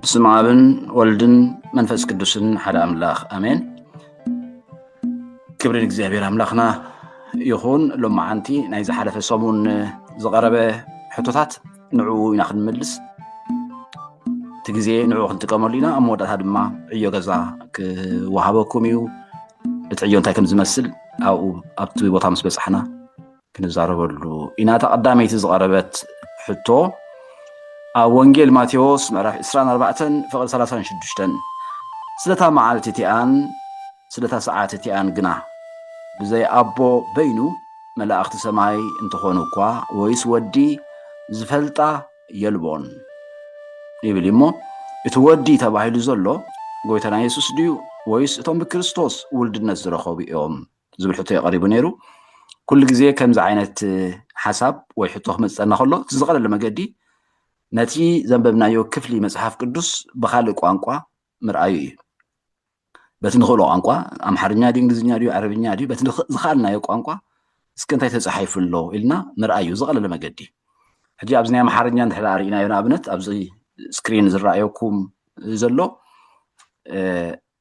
ብስመ ኣብን ወልድን መንፈስ ቅዱስን ሓደ ኣምላኽ ኣሜን። ክብሪ ንእግዚኣብሔር ኣምላኽና ይኹን። ሎማዓንቲ ናይ ዝሓለፈ ሰሙን ዝቐረበ ሕቶታት ንዕኡ ኢና ክንምልስ እቲ ግዜ ንዕኡ ክንጥቀመሉ ኢና። ኣብ መወዳእታ ድማ ዕዮ ገዛ ክወሃበኩም እዩ። እቲ ዕዮ እንታይ ከም ዝመስል ኣብኡ ኣብቲ ቦታ ምስ በፃሕና ክንዛረበሉ ኢና እታ ቀዳመይቲ ዝቐረበት ሕቶ ኣብ ወንጌል ማቴዎስ ምዕራፍ 24 ፍቕሪ 36 ስለታ መዓልቲ እቲኣን ስለታ ሰዓት እቲኣን ግና ብዘይ ኣቦ በይኑ መላእኽቲ ሰማይ እንተኾኑ እኳ ወይስ ወዲ ዝፈልጣ የልቦን ይብል እሞ እቲ ወዲ ተባሂሉ ዘሎ ጎይታና የሱስ ድዩ ወይስ እቶም ብክርስቶስ ውልድነት ዝረኸቡ እዮም ዝብል ሕቶ እዩ ቀሪቡ ነይሩ ኩሉ ግዜ ከምዚ ዓይነት ሓሳብ ወይ ሕቶ ክመፅፀና ከሎ እቲ ዝቐለለ መገዲ ነቲ ዘንበብናዮ ክፍሊ መፅሓፍ ቅዱስ ብካልእ ቋንቋ ምርኣዩ እዩ በቲ ንኽእሎ ቋንቋ ኣምሓርኛ ድዩ እንግሊዝኛ ድዩ ዓረብኛ ድዩ በቲ ዝኸኣልናዮ ቋንቋ እስከ እንታይ ተፃሒፉ ኣሎ ኢልና ምርኣዩ ዝቐለለ መገዲ ሕጂ ኣብዚ ናይ ኣምሓርኛ እንድሕር ኣርእናዮ ንኣብነት ኣብዚ ስክሪን ዝረኣየኩም ዘሎ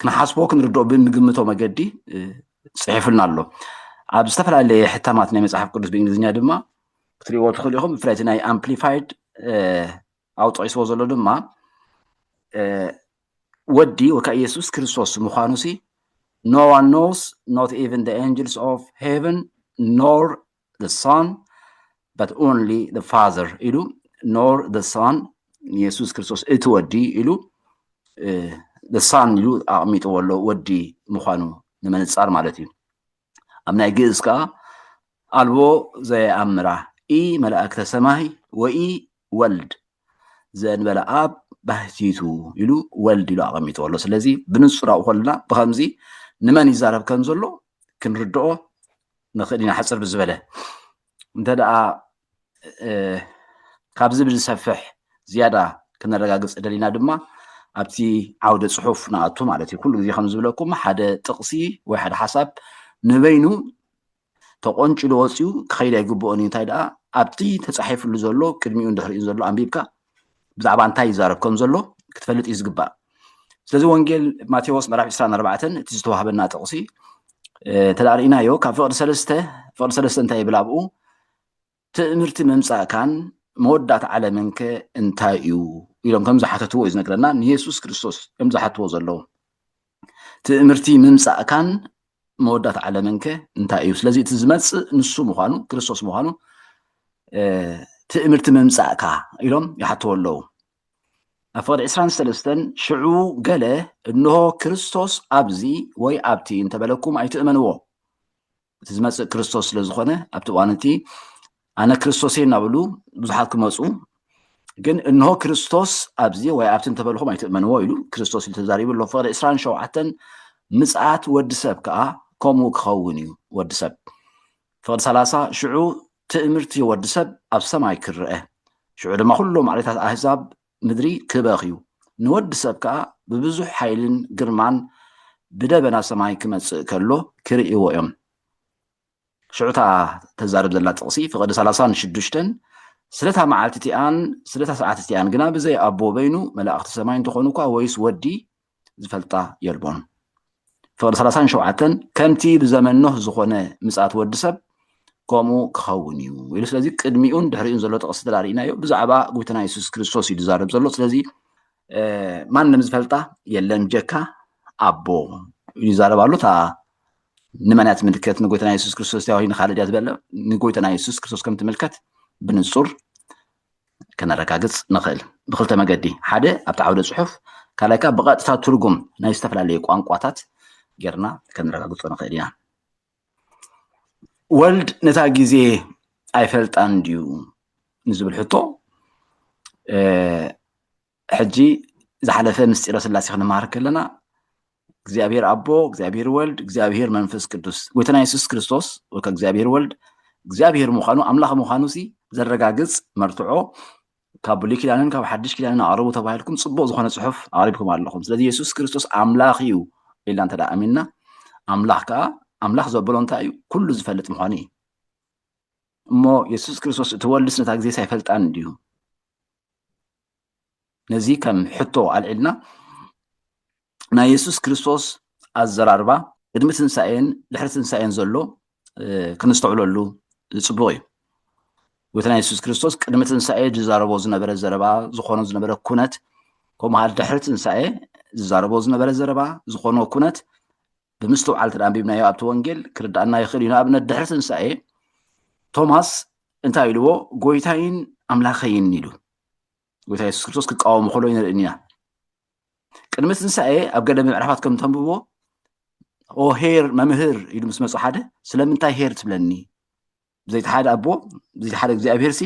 ክንሓስቦ ክንርድኦ ብንግምቶ መገዲ ፅሒፉልና ኣሎ ኣብ ዝተፈላለየ ሕታማት ናይ መፅሓፍ ቅዱስ ብእንግሊዝኛ ድማ ክትሪእዎ ትኽእሉ ኢኹም ብፍላይ እቲ ናይ ኣምፕሊፋይድ ኣብ ጠቂስዎ ዘሎ ድማ ወዲ ወካ ኢየሱስ ክርስቶስ ምዃኑ ሲ ኖ ዋን ኖውስ ኖት ኢቨን ደ ኤንጅልስ ኦፍ ሄቨን ኖር the Son, but only the Father ኢሉ nor the Son ንየሱስ ክርስቶስ እቲ ወዲ ኢሉ the Son ኢሉ ኣቕሚጥዎ ኣሎ ወዲ ምዃኑ ንምንጻር ማለት እዩ ኣብ ናይ ግእዝ ከዓ ኣልቦ ዘየኣምራ ኢ መላእክተ ሰማይ ወኢ ወልድ ዘእንበለ ኣብ ባህቲቱ ኢሉ ወልድ ኢሉ ኣቐሚጥዎ ኣሎ ስለዚ ብንጹር ኣብኡ ከለና ብከምዚ ንመን ይዛረብ ከም ዘሎ ክንርድኦ ንኽእል ኢና ሓፅር ብዝበለ እንተ ደኣ ካብዚ ብዝሰፍሕ ዝያዳ ክነረጋግፅ ደሊና ድማ ኣብቲ ዓውደ ፅሑፍ ንኣቱ ማለት እዩ ኩሉ ግዜ ከም ዝብለኩም ሓደ ጥቕሲ ወይ ሓደ ሓሳብ ንበይኑ ተቆንጭሉ ወፅኡ ክኸይድ ኣይግብኦን እዩ እንታይ ደኣ ኣብቲ ተፃሒፍሉ ዘሎ ቅድሚኡን ድሕሪኡን ዘሎ ኣንቢብካ ብዛዕባ እንታይ ይዛረብ ከም ዘሎ ክትፈልጥ እዩ ዝግባእ ስለዚ ወንጌል ማቴዎስ ምዕራፍ 24 እቲ ዝተዋህበና ጥቕሲ እንተ ርእናዮ ካብ ፍቕዲ ሰለስተ ፍቕዲ ሰለስተ እንታይ ይብል ኣብኡ ትእምርቲ ምምፃእካን መወዳእታ ዓለምን ከ እንታይ እዩ ኢሎም ከም ዝሓተትዎ እዩ ዝነግረና ንየሱስ ክርስቶስ እዮም ዝሓትዎ ዘለዉ ትእምርቲ ምምፃእካን መወዳት ዓለምን ከ እንታይ እዩ ስለዚ እቲ ዝመፅእ ንሱ ምዃኑ ክርስቶስ ምዃኑ ትእምርቲ ምምፃእካ ኢሎም ይሓትዎ ኣለዉ ኣብ ፍቕዲ ዕስራን ሰለስተን ሽዑ ገለ እንሆ ክርስቶስ ኣብዚ ወይ ኣብቲ እንተበለኩም ኣይትእመንዎ እቲ ዝመፅእ ክርስቶስ ስለ ዝኾነ ኣብቲ እዋን እቲ ኣነ ክርስቶስ እየ እናበሉ ብዙሓት ክመፁ ግን እንሆ ክርስቶስ ኣብዚ ወይ ኣብቲ እንተበልኹም ኣይትእመንዎ ኢሉ ክርስቶስ ኢሉ ተዛሪቡ ኣሎ ፍቕሪ ዕስራን ሸውዓተን ምፅኣት ወዲ ሰብ ከዓ ከምኡ ክኸውን እዩ ወዲ ሰብ ፍቕዲ ሰላሳ ሽዑ ትእምርቲ ወዲ ሰብ ኣብ ሰማይ ክረአ ሽዑ ድማ ኩሉ ማዕሬታት ኣህዛብ ምድሪ ክበኽ እዩ ንወዲ ሰብ ከዓ ብብዙሕ ሓይልን ግርማን ብደበና ሰማይ ክመፅእ ከሎ ክርእይዎ እዮም ሽዑ እታ ተዛርብ ዘላ ጥቕሲ ፍቕዲ ሰላሳን ሽዱሽተን ስለታ መዓልቲ እቲኣን ስለታ ሰዓት እቲኣን ግና ብዘይ ኣቦ በይኑ መላእኽቲ ሰማይ እንተኾኑ እኳ ወይስ ወዲ ዝፈልጣ የልቦን። ፍቕዲ ሰላሳን ሸውዓተን ከምቲ ብዘመን ኖህ ዝኾነ ምጽኣት ወዲ ሰብ ከምኡ ክኸውን እዩ ኢሉ ስለዚ ቅድሚኡን ድሕሪኡን ዘሎ ጥቕሲ ተላሪእናዮ ብዛዕባ ጉብትና የሱስ ክርስቶስ እዩ ዝዛረብ ዘሎ ስለዚ ማንም ዝፈልጣ የለን ጀካ ኣቦ ይዛረብ ኣሎ እታ ንመን እያ ትምልከት? ንጎይታና የሱስ ክርስቶስ ድያ ወይ ንካልእ ድያ ዝበለ ንጎይታና የሱስ ክርስቶስ ከም ትምልከት ብንጹር ከነረጋግጽ ንኽእል ብክልተ መገዲ፣ ሓደ ኣብቲ ዓውደ ጽሑፍ፣ ካልኣይ ከዓ ብቐጥታ ትርጉም ናይ ዝተፈላለዩ ቋንቋታት ጌርና ከነረጋግጾ ንኽእል ኢና። ወልድ ነታ ግዜ ኣይፈልጣን ድዩ ንዝብል ሕቶ ሕጂ ዝሓለፈ ምስጢረ ስላሴ ክንመሃር ከለና እግዚኣብሔር ኣቦ፣ እግዚኣብሔር ወልድ፣ እግዚኣብሔር መንፈስ ቅዱስ ጎይታና የሱስ ክርስቶስ ወይ ከዓ እግዚኣብሔር ወልድ እግዚኣብሔር ምዃኑ ኣምላኽ ምዃኑ ሲ ዘረጋግጽ መርትዖ ካብ ብሉይ ኪዳንን ካብ ሓድሽ ኪዳንን ኣቕርቡ ተባሂልኩም ጽቡቕ ዝኾነ ጽሑፍ ኣቕሪብኩም ኣለኹም። ስለዚ የሱስ ክርስቶስ ኣምላኽ እዩ ኢልና እንተ ኣሚንና ኣምላኽ ከዓ ኣምላኽ ዘበሎ እንታይ እዩ? ኩሉ ዝፈልጥ ምዃኑ እዩ። እሞ የሱስ ክርስቶስ እቲ ወልድስ ነታ ግዜስ ኣይፈልጣን ድዩ? ነዚ ከም ሕቶ ኣልዒልና ናይ የሱስ ክርስቶስ ኣዘራርባ ቅድሚ ትንሳኤን ድሕሪ ትንሳኤን ዘሎ ክንስተውዕለሉ ዝፅቡቕ እዩ ጎይታና የሱስ ክርስቶስ ቅድሚ ትንሳኤ ዝዛረቦ ዝነበረ ዘረባ ዝኾኖ ዝነበረ ኩነት ከምኡ ድሕሪ ትንሳኤ ዝዛረቦ ዝነበረ ዘረባ ዝኾኖ ኩነት ብምስትውዓል እንተ ኣንቢብናዮ ኣብቲ ወንጌል ክርዳኣና ይኽእል እዩ። ንኣብነት ድሕሪ ትንሳኤ ቶማስ እንታይ ኢልዎ? ጎይታይን ኣምላኸይን ኢሉ ጎይታ የሱስ ክርስቶስ ክቃወሙ ከሎ ይንርእን ኢና። ቅድሚ ትንሳኤ ኣብ ገለ ምዕራፋት ከም ተንብብዎ ኦ ሄር መምህር ኢሉ ምስ መፁ ሓደ ስለምንታይ ሄር ትብለኒ ብዘይቲ ሓደ ኣቦ ብዘይቲ ሓደ እግዚኣብሄር ሲ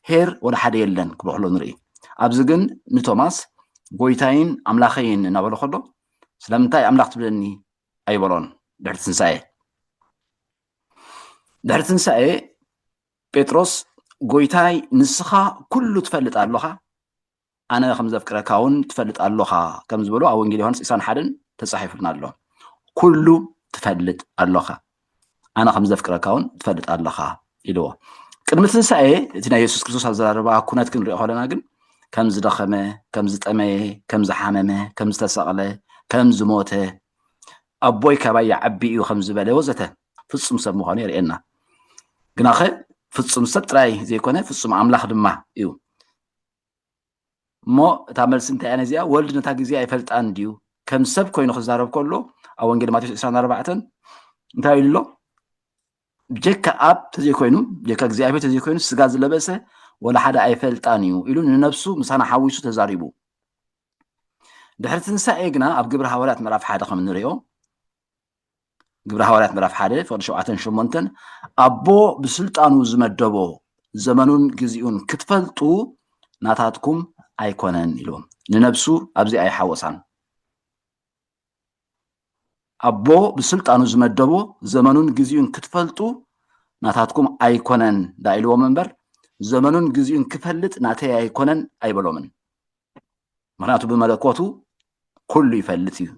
ሄር ወደ ሓደ የለን ክብሎ ከሎ ንርኢ ኣብዚ ግን ንቶማስ ጎይታይን ኣምላኸይን እናበለ ከሎ ስለምንታይ ኣምላኽ ትብለኒ ኣይበሎን ድሕሪ ትንሳኤ ድሕሪ ትንሳኤ ጴጥሮስ ጎይታይ ንስኻ ኩሉ ትፈልጥ ኣለኻ ኣነ ከም ዘፍቅረካውን ትፈልጥ ኣሎኻ ከም ዝበሎ ኣብ ወንጌል ዮሃንስ ኢሳን ሓደን ተጻሒፉልና ኣሎ። ኩሉ ትፈልጥ ኣሎኻ ኣነ ከም ዘፍቅረካውን ትፈልጥ ኣሎኻ ኢልዎ። ቅድሚ ትንሳኤ እቲ ናይ የሱስ ክርስቶስ ኣዘራርባ ኩነት ክንሪኦ ከለና ግን ከም ዝደኸመ፣ ከም ዝጠመየ፣ ከም ዝሓመመ፣ ከም ዝተሰቕለ፣ ከም ዝሞተ፣ ኣቦይ ካባይ ይዓቢ እዩ ከም ዝበለ ወዘተ ፍጹም ሰብ ምዃኑ የርእየና። ግናኸ ፍጹም ሰብ ጥራይ ዘይኮነ ፍጹም ኣምላኽ ድማ እዩ። እሞ እታ መልሲ እንታይ እያ ነዚኣ ወልድ ነታ ግዜ ኣይፈልጣን ድዩ ከም ሰብ ኮይኑ ክዛረብ ከሎ ኣብ ወንጌል ማቴዎስ 24 እንታይ ኢሉ ኣሎ ብጀካ ኣብ ተዘይኮይኑ ብጀካ እግዚኣብሔር ተዘይኮይኑ ስጋ ዝለበሰ ወላ ሓደ ኣይፈልጣን እዩ ኢሉ ንነብሱ ምሳና ሓዊሱ ተዛሪቡ ድሕሪ ትንሳኤ ግና ኣብ ግብሪ ሃዋርያት ምዕራፍ ሓደ ከም ንሪኦ ግብረ ሃዋርያት ምዕራፍ ሓደ ፍቅዲ ሸውዓተን ሸሞንተን ኣቦ ብስልጣኑ ዝመደቦ ዘመኑን ግዜኡን ክትፈልጡ ናታትኩም ኣይኮነን ኢልዎም ንነብሱ ኣብዚ ኣይሓወሳን ኣቦ ብስልጣኑ ዝመደቦ ዘመኑን ግዜኡን ክትፈልጡ ናታትኩም ኣይኮነን ዳ ኢልዎም እምበር ዘመኑን ግዜኡን ክፈልጥ ናተይ ኣይኮነን ኣይበሎምን ምክንያቱ ብመለኮቱ ኩሉ ይፈልጥ እዩ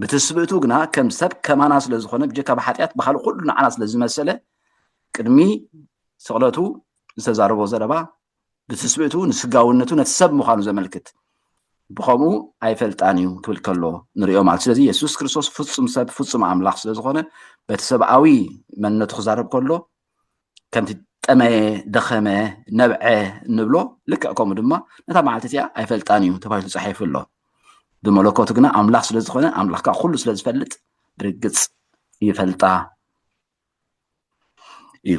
ብትስብእቱ ግና ከም ሰብ ከማና ስለ ዝኾነ ብጀካ ብሓጢኣት ብካልእ ኩሉ ንዓና ስለ ዝመሰለ ቅድሚ ስቕለቱ ዝተዛረቦ ዘረባ ብትስብእቱ ንስጋውነቱ ነቲ ሰብ ምዃኑ ዘመልክት ብከምኡ ኣይፈልጣን እዩ ክብል ከሎ ንሪኦ ማለት ስለዚ የሱስ ክርስቶስ ፍፁም ሰብ ፍፁም ኣምላኽ ስለ ዝኾነ በቲ ሰብኣዊ መንነቱ ክዛረብ ከሎ ከምቲ ጠመየ ደኸመ ነብዐ እንብሎ ልክዕ ከምኡ ድማ ነታ መዓልቲ እዚኣ ኣይፈልጣን እዩ ተባሂሉ ተፃሒፉ ኣሎ ብመለኮቱ ግና ኣምላኽ ስለ ዝኾነ ኣምላኽ ከዓ ኩሉ ስለ ዝፈልጥ ብርግፅ ይፈልጣ እዩ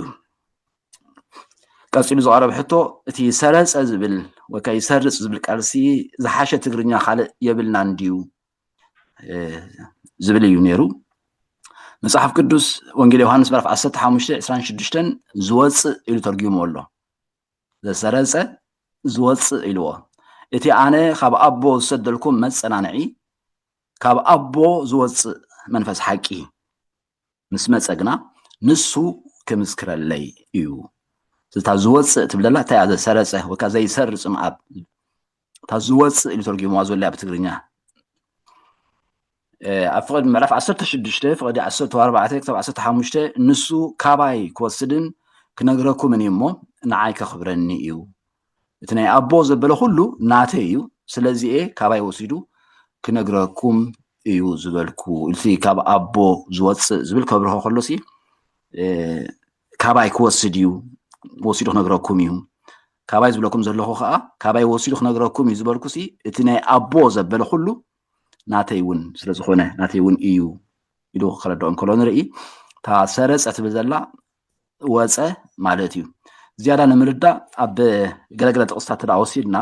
ቀፂሉ ዝቐረበ ሕቶ እቲ ሰረፀ ዝብል ወይ ከዓ ይሰርፅ ዝብል ቃልሲ ዝሓሸ ትግርኛ ካልእ የብልናን ድዩ ዝብል እዩ ነይሩ መፅሓፍ ቅዱስ ወንጌል ዮሃንስ ምዕራፍ 15 26 ዝወፅእ ኢሉ ተርጊሞ ኣሎ ዘሰረፀ ዝወፅእ ኢልዎ እቲ ኣነ ካብ ኣቦ ዝሰደልኩም መፀናንዒ ካብ ኣቦ ዝወፅእ መንፈስ ሓቂ ምስ መጸ ግና ንሱ ክምስክረለይ እዩ እታ ዝወፅእ ትብል ዘላ እንታይ እያ ዘሰረፀ ወይ ከዓ ዘይሰርፅ ምኣብ እታ ዝወፅእ ኢሉ ተርጊምዋ ዘሎ እያ ብትግርኛ ኣብ ፍቕዲ ምዕራፍ 16 ፍቕዲ 14 ክሳብ 15 ንሱ ካባይ ክወስድን ክነግረኩምን እዩ እሞ ንዓይ ከኽብረኒ እዩ እቲ ናይ ኣቦ ዘበለ ኩሉ ናተይ እዩ ስለዚ እየ ካባይ ወሲዱ ክነግረኩም እዩ ዝበልኩ ኢልሲ ካብ ኣቦ ዝወፅእ ዝብል ከብርሆ ከሎሲ ካባይ ክወስድ እዩ ወሲዱ ክነግረኩም እዩ ካባይ ዝብለኩም ዘለኹ ከዓ ካባይ ወሲዱ ክነግረኩም እዩ ዝበልኩሲ እቲ ናይ ኣቦ ዘበለ ኩሉ ናተይ እውን ስለ ዝኾነ ናተይ እውን እዩ ኢሉ ክረድኦ እንከሎ ንርኢ እታ ሰረፀ ትብል ዘላ ወፀ ማለት እዩ ዝያዳ ንምርዳእ ኣብ ገለገለ ጥቕስታት ተዳ ወሲድና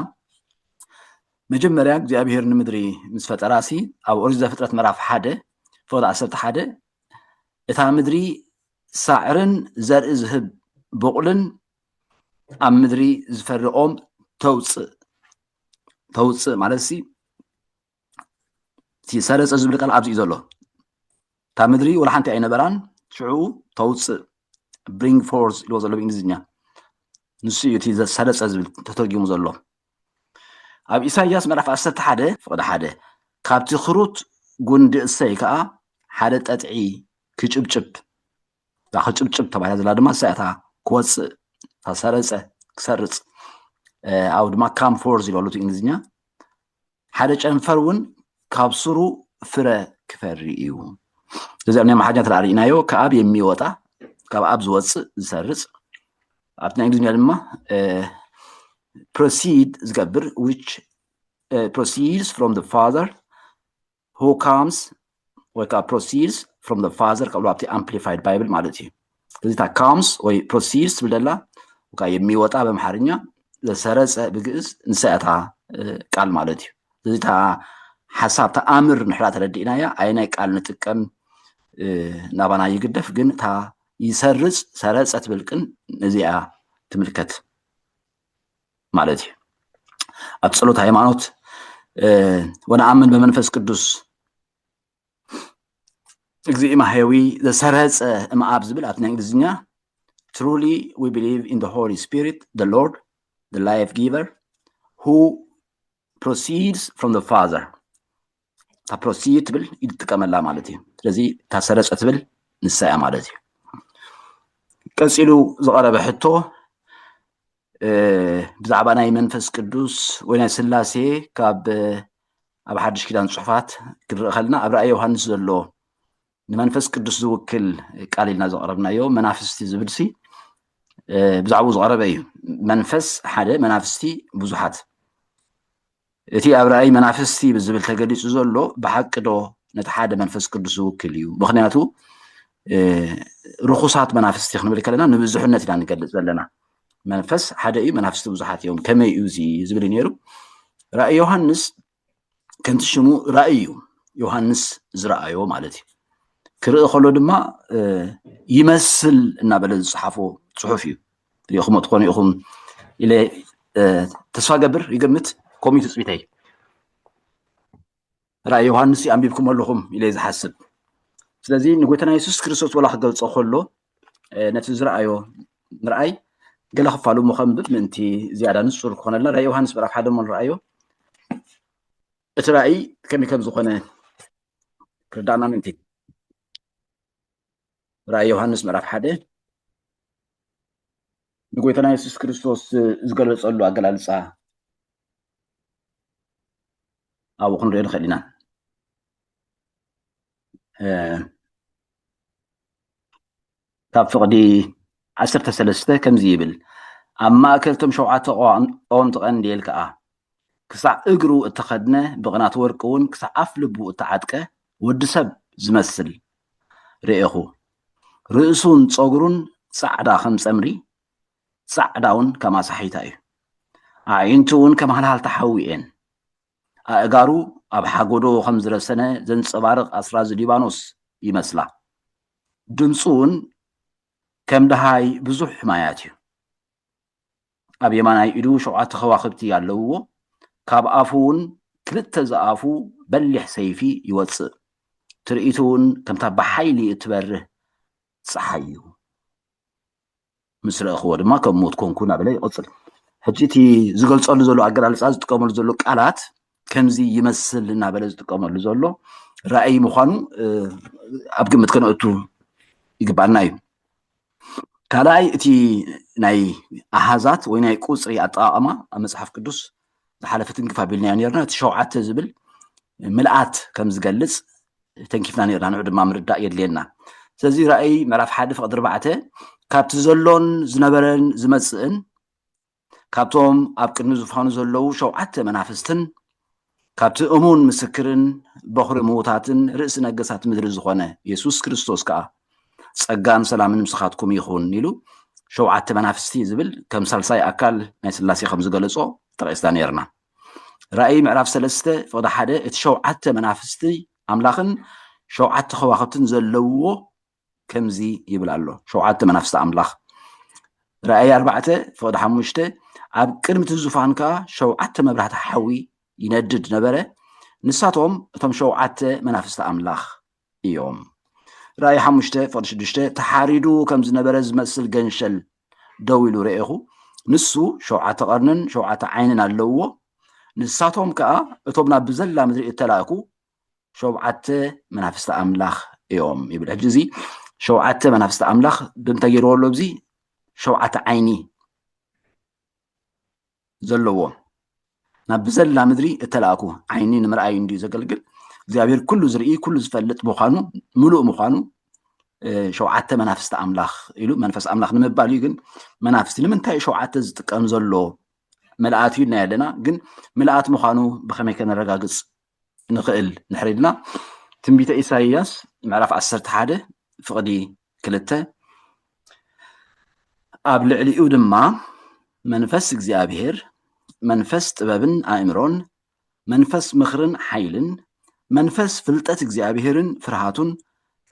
መጀመርያ እግዚኣብሄር ንምድሪ ምስ ፈጠራ ሲ ኣብ ኦሪት ዘፍጥረት ምዕራፍ ሓደ ፍቕዲ ዓሰርተ ሓደ እታ ምድሪ ሳዕርን ዘርኢ ዝህብ ብቑልን ኣብ ምድሪ ዝፈርቖም ተውፅእ ተውፅእ ማለት ሲ ሰረፀ ዝብል ቃል ኣብዚ እዩ ዘሎ እታ ምድሪ ወላ ሓንቲ ኣይነበራን ሽዑ ተውፅእ ብሪንግ ፎርስ ኢልዎ ዘሎ ብእንግሊዝኛ ንሱ እዩ እቲ ሰረፀ ዝብል ተተርጊሙ ዘሎ ኣብ ኢሳያስ ምዕራፍ ዓሰርተ ሓደ ፍቕዲ ሓደ ካብቲ ክሩት ጉንዲ እሰይ ከዓ ሓደ ጠጥዒ ክጭብጭብ እዛ ክጭብጭብ ተባሂላ ዘላ ድማ እሳ እታ ክወፅእ እታ ሰረፀ ክሰርፅ ኣብ ድማ ካም ፎርስ ኢልዎ ኣሎ እቲ እንግሊዝኛ ሓደ ጨንፈር እውን ካብ ሱሩ ፍረ ክፈሪ እዩ እዚ ኣብ ናይ ኣምሓርኛ ተለኣ ርኢናዮ ከኣብ የሚወጣ ካብ ኣብ ዝወፅእ ዝሰርፅ ኣብቲ ናይ እንግሊዝኛ ድማ ፕሮሲድ ዝገብር ዊች ፕሮሲድስ ፍሮም ፋዘር ሁ ካምስ ወይ ከዓ ፕሮሲድስ ፍሮም ዘ ፋዘር ከብሎ ኣብቲ ኣምፕሊፋይድ ባይብል ማለት እዩ እዚ እታ ካምስ ወይ ፕሮሲድስ ትብል ደላ ወካ የሚወጣ በምሓርኛ ዘሰረፀ ብግእዝ ንሳ እያ እታ ቃል ማለት እዩ እዚ እታ ሓሳብ ተኣምር ንሕራ ተረዲእናያ ኣይናይ ቃል ንጥቀም ናባና ይግደፍ ግን እታ ይሰርፅ ሰረፀ ትብል ቅን እዚኣ ትምልከት ማለት እዩ ኣብ ፀሎት ሃይማኖት ወነኣምን በመንፈስ ቅዱስ እግዚእ ማሕየዊ ዘሰረፀ እምኣብ ዝብል ኣብቲ ናይ እንግሊዝኛ ትሩሊ ዊ ብሊቭ ኢን ሆሊ ስፒሪት ደ ሎርድ ደ ላይፍ ጊቨር ሁ ፕሮሲድስ ፍሮም ደ ፋዘር እታ ፕሮሲ ትብል ኢድ ትጥቀመላ ማለት እዩ ስለዚ እታ ሰረፀ ትብል ንሳ እያ ማለት እዩ ቀፂሉ ዝቐረበ ሕቶ ብዛዕባ ናይ መንፈስ ቅዱስ ወይ ናይ ስላሴ ካብ ኣብ ሓድሽ ኪዳን ፅሑፋት ክንርኢ ከለና ኣብ ራእይ ዮሃንስ ዘሎ ንመንፈስ ቅዱስ ዝውክል ቃል ኢልና ዘቕረብናዮ መናፍስቲ ዝብልሲ ብዛዕባኡ ዝቐረበ እዩ መንፈስ ሓደ መናፍስቲ ብዙሓት እቲ ኣብ ራእይ መናፍስቲ ብዝብል ተገሊፁ ዘሎ ብሓቂ ዶ ነቲ ሓደ መንፈስ ቅዱስ ዝውክል እዩ ምክንያቱ ርኩሳት መናፍስቲ ክንብል ከለና ንብዙሕነት ኢና ንገልፅ ዘለና መንፈስ ሓደ እዩ መናፍስቲ ብዙሓት እዮም ከመይ እዩ እዚ ዝብል ነይሩ ራእይ ዮሃንስ ከምቲ ሽሙ ራእይ እዩ ዮሃንስ ዝረኣዮ ማለት እዩ ክርኢ ከሎ ድማ ይመስል እናበለ ዝፅሓፎ ፅሑፍ እዩ ሪኢኹሞ ትኾኑ ኢኹም ኢለ ተስፋ ገብር ይገምት ከምኡ ትፅቢተይ ራእይ ዮሃንስ ኣንቢብኩም ኣለኹም ኢለ ዝሓስብ ስለዚ ንጎይታና የሱስ ክርስቶስ ወላ ክገልፆ ከሎ ነቲ ዝረኣዮ ምርኣይ ገለ ክፋሉ እሞ ከንብብ ምእንቲ ዝያዳ ንፁር ክኾነልና ራእይ ዮሃንስ ምዕራፍ ሓደ እሞ ንረኣዮ እቲ ራእይ ከመይ ከም ዝኾነ ክርዳእና ምእንቲ ራእይ ዮሃንስ ምዕራፍ ሓደ ንጎይታና የሱስ ክርስቶስ ዝገለፀሉ ኣገላልፃ ኣብኡ ክንሪኦ ንኽእል ኢና ካብ ፍቕዲ ዓሰርተ ሰለስተ ከምዚ ይብል፣ ኣብ ማእከል እቶም ሸውዓተ ቀወምቲ ቀንዴል ከኣ፣ ክሳዕ እግሩ እተኸድነ ብቕናት ወርቂ እውን ክሳዕ ኣፍ ልቡ እተዓጥቀ ወዲ ሰብ ዝመስል ርኤኹ። ርእሱን ጸጕሩን ጻዕዳ ከም ጸምሪ፣ ጻዕዳውን ከም ኣሳሒታ እዩ፣ ኣዒንቱ እውን ከም ሃልሃልታ ሓዊ እየን። ኣእጋሩ ኣብ ሓጎዶ ከም ዝረሰነ ዘንጸባርቕ ኣስራዚ ሊባኖስ ይመስላ። ድምጹ ውን ከም ደሃይ ብዙሕ ማያት እዩ። ኣብ የማናይ ኢዱ ሸውዓተ ከዋኽብቲ ኣለውዎ። ካብ ኣፉ ውን ክልተ ዝኣፉ በሊሕ ሰይፊ ይወጽእ። ትርኢቱ ውን ከምታ ብሓይሊ እትበርህ ጸሓይ እዩ። ምስ ረኣኽዎ ድማ ከም ሞት ኮንኩ እናበለ ይቕፅል። ሕጂ እቲ ዝገልፀሉ ዘሎ ኣገላልፃ ዝጥቀመሉ ዘሎ ቃላት ከምዚ ይመስል እናበለ ዝጥቀመሉ ዘሎ ራእይ ምዃኑ ኣብ ግምት ከነእቱ ይግባና እዩ። ካልኣይ እቲ ናይ ኣሃዛት ወይ ናይ ቁፅሪ ኣጠቃቅማ ኣብ መፅሓፍ ቅዱስ ዝሓለፈ ትንክፍ ኣቢልናዮ ነርና እቲ ሸውዓተ ዝብል ምልኣት ከም ዝገልጽ ተንኪፍና ነርና ንዑ ድማ ምርዳእ የድልየና ስለዚ ራእይ ምዕራፍ ሓደ ፍቕዲ ኣርባዕተ ካብቲ ዘሎን ዝነበረን ዝመጽእን ካብቶም ኣብ ቅድሚ ዝፋኑ ዘለዉ ሸውዓተ መናፍስትን ካብቲ እሙን ምስክርን በኹሪ ምዉታትን ርእሲ ነገሳት ምድሪ ዝኾነ የሱስ ክርስቶስ ከኣ ጸጋን ሰላምን ምስኻትኩም ይኹን ኢሉ ሸውዓተ መናፍስቲ ዝብል ከም ሳልሳይ ኣካል ናይ ስላሴ ከም ዝገለጾ ጠቂስና ነይርና። ራእይ ምዕራፍ ሰለስተ ፍቕዲ ሓደ እቲ ሸውዓተ መናፍስቲ ኣምላኽን ሸውዓተ ከዋኽብትን ዘለውዎ ከምዚ ይብል ኣሎ። ሸውዓተ መናፍስቲ ኣምላኽ ራእይ ኣርባዕተ ፍቕዲ ሓሙሽተ ኣብ ቅድሚ እቲ ዙፋን ከዓ ሸውዓተ መብራህቲ ሓዊ ይነድድ ነበረ ንሳቶም እቶም ሸውዓተ መናፍስቲ ኣምላኽ እዮም። ራእይ ሓሙሽተ ፍቕዲ ሽዱሽተ ተሓሪዱ ከም ዝነበረ ዝመስል ገንሸል ደው ኢሉ ረኤኹ። ንሱ ሸውዓተ ቐርንን ሸውዓተ ዓይንን ኣለውዎ። ንሳቶም ከኣ እቶም ናብ ብዘላ ምድሪ እተላእኩ ሸውዓተ መናፍስቲ ኣምላኽ እዮም ይብል። ሕጂ እዚ ሸውዓተ መናፍስቲ ኣምላኽ ብምንታይ ገይርዎ ኣሎ? እዚ ሸውዓተ ዓይኒ ዘለዎ ናብ ብዘላ ምድሪ እተላእኩ ዓይኒ ንምርኣይ እንድዩ ዘገልግል እግዚኣብሔር ኩሉ ዝርኢ ኩሉ ዝፈልጥ ምዃኑ ምሉእ ምዃኑ ሸውዓተ መናፍስቲ ኣምላኽ ኢሉ መንፈስ ኣምላኽ ንምባል እዩ ግን መናፍስቲ ንምንታይ ሸውዓተ ዝጥቀም ዘሎ መልኣት እዩ ናይ ኣለና ግን ምልኣት ምዃኑ ብኸመይ ከነረጋግፅ ንኽእል ንሕሪ ኢልና ትንቢተ ኢሳይያስ ምዕራፍ ዓሰርተ ሓደ ፍቕዲ ክልተ ኣብ ልዕሊኡ ድማ መንፈስ እግዚኣብሔር መንፈስ ጥበብን ኣእምሮን መንፈስ ምኽርን ሓይልን መንፈስ ፍልጠት እግዚኣብሔርን ፍርሃቱን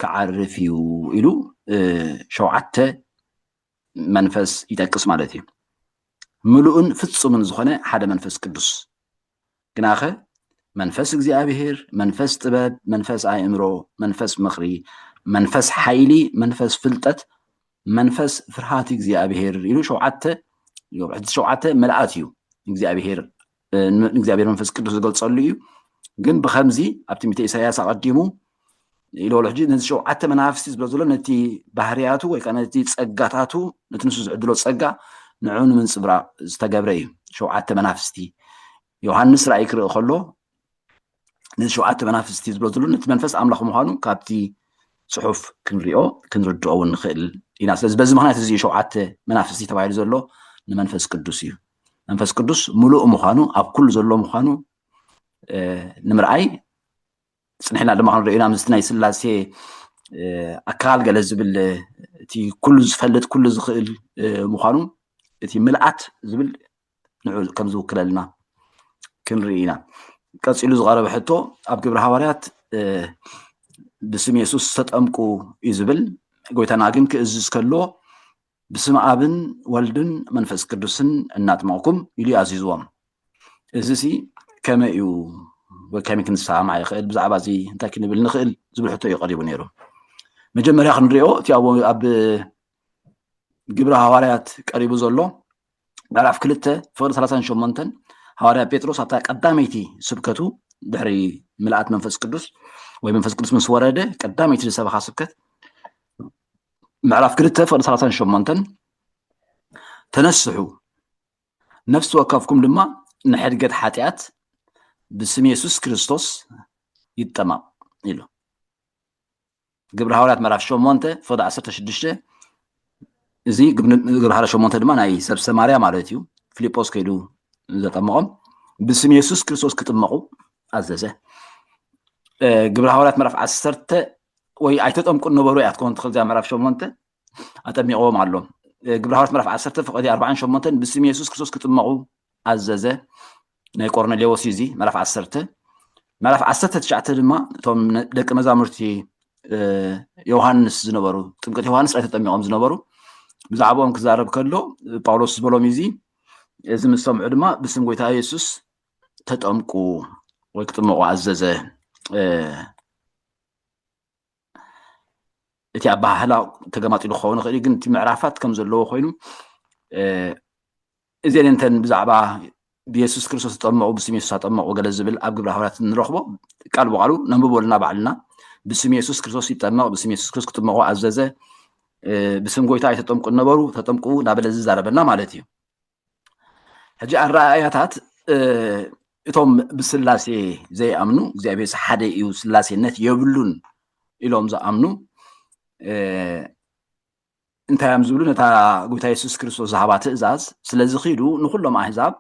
ክዓርፍ እዩ ኢሉ ሸውዓተ መንፈስ ይጠቅስ ማለት እዩ ምሉእን ፍፁምን ዝኾነ ሓደ መንፈስ ቅዱስ ግናኸ መንፈስ እግዚኣብሄር፣ መንፈስ ጥበብ፣ መንፈስ ኣእምሮ፣ መንፈስ ምኽሪ፣ መንፈስ ሓይሊ፣ መንፈስ ፍልጠት፣ መንፈስ ፍርሃት እግዚኣብሄር ኢሉ ሸውዓተ ሕዚ ሸውዓተ መልኣት እዩ እግዚኣብሄር ንእግዚኣብሄር መንፈስ ቅዱስ ዝገልጸሉ እዩ ግን ብከምዚ ኣብ ትንቢተ ኢሳያስ ኣቐዲሙ ኢሉ ኣሎ ሕጂ ነዚ ሸውዓተ መናፍስቲ ዝብሎ ዘሎ ነቲ ባህርያቱ ወይ ከዓ ነቲ ጸጋታቱ ነቲ ንሱ ዝዕድሎ ጸጋ ንዕኡ ንምንጽብራቕ ዝተገብረ እዩ ሸውዓተ መናፍስቲ ዮሃንስ ራእይ ክርኢ ከሎ ነዚ ሸውዓተ መናፍስቲ ዝብሎ ዘሎ ነቲ መንፈስ ኣምላኽ ምዃኑ ካብቲ ጽሑፍ ክንሪኦ ክንርድኦ እውን ንኽእል ኢና ስለዚ በዚ ምክንያት እዚ ሸውዓተ መናፍስቲ ተባሂሉ ዘሎ ንመንፈስ ቅዱስ እዩ መንፈስ ቅዱስ ምሉእ ምዃኑ ኣብ ኩሉ ዘሎ ምዃኑ ንምርኣይ ፅንሕና ድማ ክንሪኦ ኢና ምስቲ ናይ ስላሴ ኣካል ገለ ዝብል እቲ ኩሉ ዝፈልጥ ኩሉ ዝኽእል ምዃኑ እቲ ምልኣት ዝብል ንዑ ከም ዝውክለልና ክንርኢ ኢና ቀፂሉ ዝቐረበ ሕቶ ኣብ ግብረ ሃዋርያት ብስም የሱስ ተጠምቁ እዩ ዝብል ጎይታና ግን ክእዝዝ ከሎ ብስመ ኣብን ወልድን መንፈስ ቅዱስን እናጥመቕኩም ኢሉ እዩ ኣዚዝዎም እዚ ሲ ከመይ እዩ ወይ ከመይ ክንሰማማዕ ይኽእል ብዛዕባ እዚ እንታይ ክንብል ንኽእል ዝብል ሕቶ እዩ ቀሪቡ ነይሩ መጀመርያ ክንሪኦ እቲ ኣብ ግብረ ሃዋርያት ቀሪቡ ዘሎ ምዕራፍ ክልተ ፍቕዲ ሰላሳን ሸሞንተን ሃዋርያ ጴጥሮስ ኣብታ ቀዳመይቲ ስብከቱ ድሕሪ ምልኣት መንፈስ ቅዱስ ወይ መንፈስ ቅዱስ ምስ ወረደ ቀዳመይቲ ዝሰበኻ ስብከት ምዕራፍ ክልተ ፍቕዲ ሰላሳን ሸሞንተን ተነስሑ ነፍሲ ወከፍኩም ድማ ንሕድገት ሓጢኣት ብስም የሱስ ክርስቶስ ይጠማቕ ኢሉ ግብሪ ሃዋርያት ምዕራፍ ሸሞንተ ፍቕዲ ዓሰርተ ሽዱሽተ እዚ ግብሪ ሃዋርያት ሸሞንተ ድማ ናይ ሰብ ሰማርያ ማለት እዩ ፊልጶስ ከይዱ ዘጠመቖም ብስም የሱስ ክርስቶስ ክጥመቑ ኣዘዘ ግብሪ ሃዋርያት ምዕራፍ ዓሰርተ ወይ ኣይተጠምቁን ነበሩ እያ ትኸውን ትኽእል እዚኣ ምዕራፍ ሸሞንተ ኣጠሚቕዎም ኣሎ። ግብረ ሃዋርያት ምዕራፍ ዓሰርተ ፍቕዲ ኣርባዓን ሸሞንተን ብስም የሱስ ክርስቶስ ክጥመቑ ኣዘዘ ናይ ቆርኔሌዎስ እዩ እዚ ምዕራፍ ዓሰርተ ምዕራፍ ዓሰርተ ትሽዓተ ድማ እቶም ደቂ መዛሙርቲ ዮሃንስ ዝነበሩ ጥምቀት ዮሃንስ ጥራይ ተጠሚቖም ዝነበሩ ብዛዕባኦም ክዛረብ ከሎ ጳውሎስ ዝበሎም እዚ እዚ ምስ ሰምዑ ድማ ብስም ጎይታ የሱስ ተጠምቁ ወይ ክጥመቑ ኣዘዘ እቲ ኣበሃህላ ተገማጢሉ ክኸውን ይኽእል እዩ ግን እቲ ምዕራፋት ከም ዘለዎ ኮይኑ እዚን እንተን ብዛዕባ ብየሱስ ክርስቶስ ተጠመቑ ብስም የሱስ ኣጠመቑ ገለ ዝብል ኣብ ግብረ ሃዋርያት ንረኽቦ ቃል ብቃሉ ነንብበልና ባዕልና ብስም የሱስ ክርስቶስ ይጠመቕ ብስም የሱስ ክርስቶስ ክጥመቑ ኣዘዘ ብስም ጎይታ ኣይተጠምቁ ነበሩ ተጠምቁ እናበለ ዝዛረበና ማለት እዩ ሕጂ ኣረኣእያታት እቶም ብስላሴ ዘይኣምኑ እግዚኣብሔር ሓደ እዩ ስላሴነት የብሉን ኢሎም ዝኣምኑ እንታይ እዮም ዝብሉ ነታ ጎይታ የሱስ ክርስቶስ ዝሃባ ትእዛዝ ስለዚ ኪዱ ንኩሎም ኣህዛብ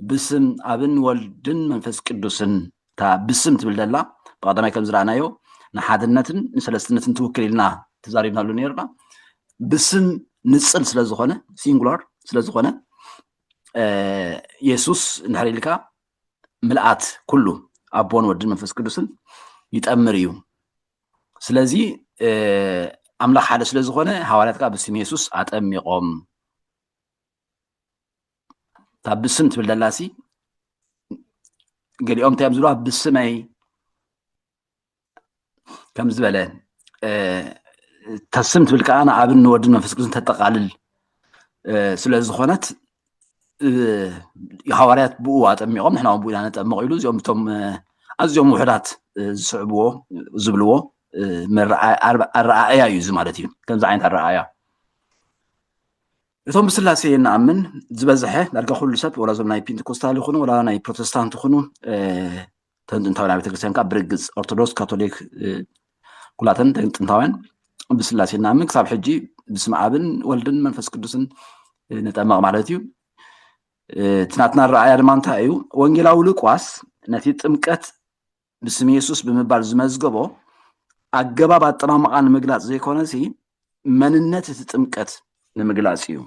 ብስም ኣብን ወልድን መንፈስ ቅዱስን እታ ብስም ትብል ደላ ብቀዳማይ ከም ዝረኣናዮ ንሓድነትን ንሰለስትነትን ትውክል ኢልና ተዛሪብናሉ ነርና ብስም ንፅል ስለዝኾነ ሲንጉላር ስለዝኾነ የሱስ እንድሕር ኢልካ ምልኣት ኩሉ ኣቦን ወድን መንፈስ ቅዱስን ይጠምር እዩ ስለዚ ኣምላኽ ሓደ ስለዝኾነ ሃዋርያት ከዓ ብስም የሱስ ኣጠሚቖም እታ ብስም ትብል ደላሲ ገሊኦም እንታይ እዮም ዝብልዋ ብስመይ ከም ዝበለ እታ ስም ትብል ከዓ ንኣብን ንወድን መንፈስ ቅዱስን ተጠቃልል ስለ ዝኾነት ሃዋርያት ብኡ ኣጠሚቖም ንሕና እውን ብኡ ኢና ነጠምቕ ኢሉ እዚኦም እቶም ኣዝዮም ውሕዳት ዝስዕብዎ ዝብልዎ ኣረኣእያ እዩ እዚ ማለት እዩ ከምዚ ዓይነት ኣረኣእያ እቶም ብስላሴ ንኣምን ዝበዝሐ ዳርጋ ኩሉ ሰብ ወላ እዞም ናይ ፔንቴኮስታል ይኹኑ ወላ ናይ ፕሮቴስታንት ይኹኑ እተን ጥንታውያን ኣብያተ ክርስቲያን ከዓ ብርግፅ ኦርቶዶክስ ካቶሊክ ኩላተን ጥንታውያን ብስላሴ ንኣምን ክሳብ ሕጂ ብስም ኣብን ወልድን መንፈስ ቅዱስን ንጠመቕ ማለት እዩ እቲ ናትና ረኣያ ድማ እንታይ እዩ ወንጌላዊ ሉቃስ ነቲ ጥምቀት ብስም የሱስ ብምባል ዝመዝገቦ ኣገባብ ኣጠማምቓ ንምግላጽ ዘይኮነሲ መንነት እቲ ጥምቀት ንምግላጽ እዩ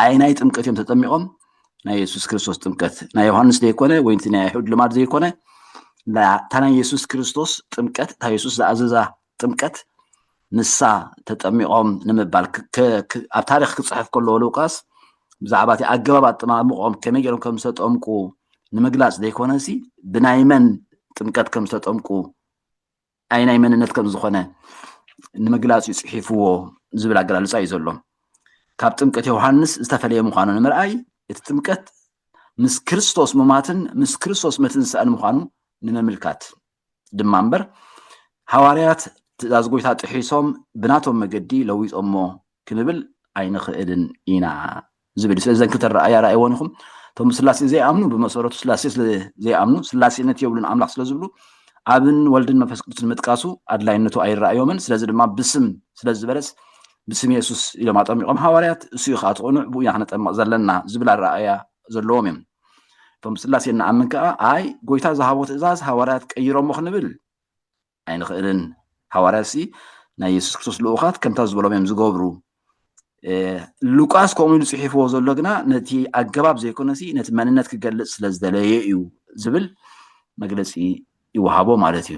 ኣይ ናይ ጥምቀት እዮም ተጠሚቖም ናይ የሱስ ክርስቶስ ጥምቀት ናይ ዮሃንስ ዘይኮነ ወይ እቲ ናይ ኣይሁድ ልማድ ዘይኮነ እታ ናይ የሱስ ክርስቶስ ጥምቀት እታ የሱስ ዝኣዘዛ ጥምቀት ንሳ ተጠሚቆም ንምባል ኣብ ታሪክ ክፅሕፍ ከለዎ ሉቃስ ብዛዕባ እቲ ኣገባብ ኣጠማምቆም ከመይ ገይሮም ከም ዝተጠምቁ ንምግላፅ ዘይኮነሲ ብናይ መን ጥምቀት ከም ዝተጠምቁ ኣይ ናይ መንነት ከም ዝኾነ ንምግላፅ እዩ ፅሒፍዎ ዝብል ኣገላልፃ እዩ ዘሎ ካብ ጥምቀት ዮሃንስ ዝተፈለየ ምዃኑ ንምርኣይ እቲ ጥምቀት ምስ ክርስቶስ ሙማትን ምስ ክርስቶስ መትንሳእን ምዃኑ ንምምልካት ድማ እምበር ሃዋርያት ትእዛዝ ጎይታ ጥሒሶም ብናቶም መገዲ ለዊጦሞ ክንብል ኣይንኽእልን ኢና ዝብል ስለ ዘን ክልተ ረኣያ ረኣይዎን ኢኹም እቶም ስላሴ ዘይኣምኑ ብመሰረቱ ስላሴ ስለ ዘይኣምኑ ስላሴነት የብሉን ኣምላኽ ስለ ዝብሉ ኣብን ወልድን መንፈስ ቅዱስን ምጥቃሱ ኣድላይነቱ ኣይረኣዮምን ስለዚ ድማ ብስም ስለ ዝበለስ ብስም የሱስ ኢሎም ኣጠሚቖም ሃዋርያት እሱ እዩ ከዓ እቲ ቅኑዕ ብኡ ኢና ክነጠምቕ ዘለና ዝብል ኣረኣእያ ዘለዎም እዮም እቶም ስላሴ እንኣምን ከኣ ኣይ ጎይታ ዝሃቦ ትእዛዝ ሃዋርያት ቀይሮሞ ክንብል ኣይንኽእልን ሃዋርያትሲ ናይ የሱስ ክርስቶስ ልኡኻት ከምታ ዝበሎም እዮም ዝገብሩ ሉቃስ ከምኡ ኢሉ ጽሒፍዎ ዘሎ ግና ነቲ ኣገባብ ዘይኮነሲ ነቲ መንነት ክገልጽ ስለ ዝደለየ እዩ ዝብል መግለጺ ይወሃቦ ማለት እዩ